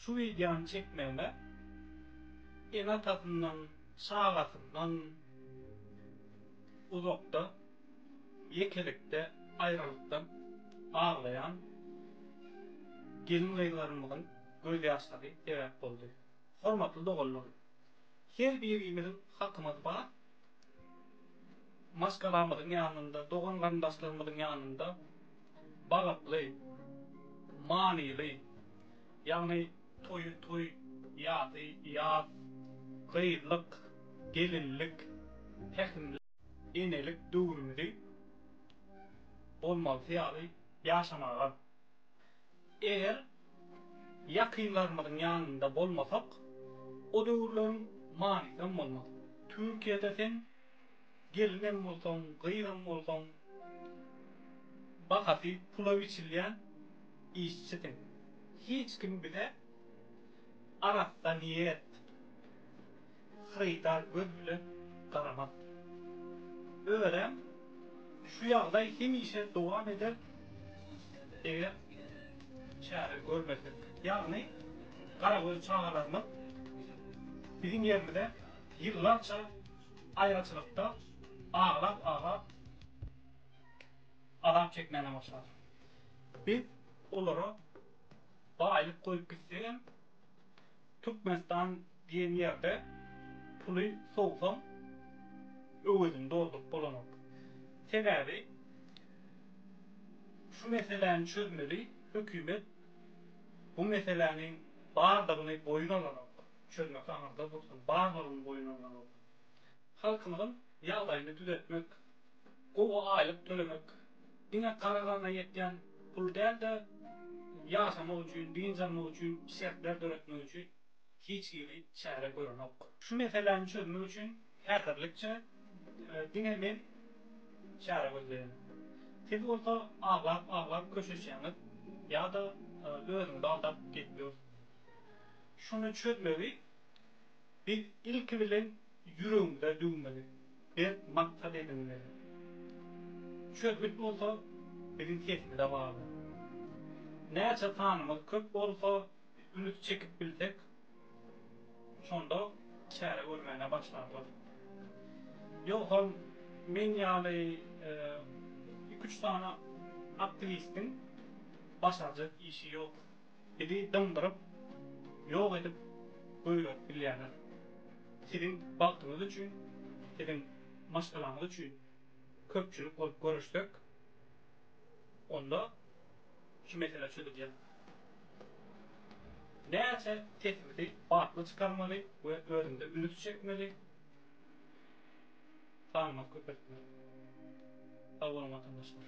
Şu wideony çekmäge ene-atasyndan, çagasyndan uzakda, ýekelikde, aýralykdan aglaýan gelin-gyzlarymyzyň gözýaşlary sebäp boldy. Hormatly doganlar! Her birimiziň hakymyz bar, maşgalamyzyň ýanynda, dogan-garyndaşlarymyzyň ýanynda. bagtly, manyly, ýagny toýy toý, ýasy ýas, gyzlyk, gelinlik, pähimlik, enelik döwrümizi bolmalysy ýaly ýaşamaga, eger ýakynlarymyzyň ýanynda bolmasak, o döwürleriň manysy hem bolmaz. Türkiýede sen. Gelinem bolsaň, gyzam bolsaň, bahasy pula biçilýän işçisiň. Hiç kim bize arassa niýet, hyrydar göz bilen garamaz. Örän şu ýagdaý hemişe dowam eder, eger çäre görmesek. Ýagny, garagöz çagalarymyz biziň ýerimize ýyllarça. Aýraçylykda aglap-aglap azap çekmäne başlar. Biz olara baýlyk goýup gitsegem, Türkmenistan diýen ýerde puly sowsaň, öwezini dolduryp bolanok. Sebäbi şu meseläni çözmeli hökümet bu meseläniň bardygyny boýun alanok. çözmek aňyrda dursun, barlygyny boýun alýan bolsa, halkymyzyň ýagdaýyny düzetmek, gowy aýlyk tölemek diňe gara gana ýetýän pul däl-de, ýaşamak üçin, dynç almak üçin şertler döretmek üçin hiç hili çäre görenok. Şu meseläni çözmek üçin häzirlikçe diňe men çäre gözleýän. Siz bolsa aglap-aglap köşeşýäňiz ýa-da özüňizi aldap gelip ýörsiňiz. Şuny çözmegi biz ilki bilen ýüregimize düwmeli, berk maksat edinmeli. Çözgüt bolsa biziň sesimize bagly. Näçe sanymyz köp bolsa, üns çekip bilsek, şonda çäre görmäne başlarlar. Ýogsam men ýaly iki-üç sany aktiwistiň başarjak işi ýok. Bizi dyňdyryp, ýok edip goýberip bilýärler. Siziň bagtyňyz üçin, siziň maşgalaňyz üçin köpçülik bolup göreşsek, onda şu mesele çözülýär. Näçe sesimizi batly çykarmaly we özümize ünüs çekmeli, sanymyzy köpeltmeli. Sag boluň watandaşlar.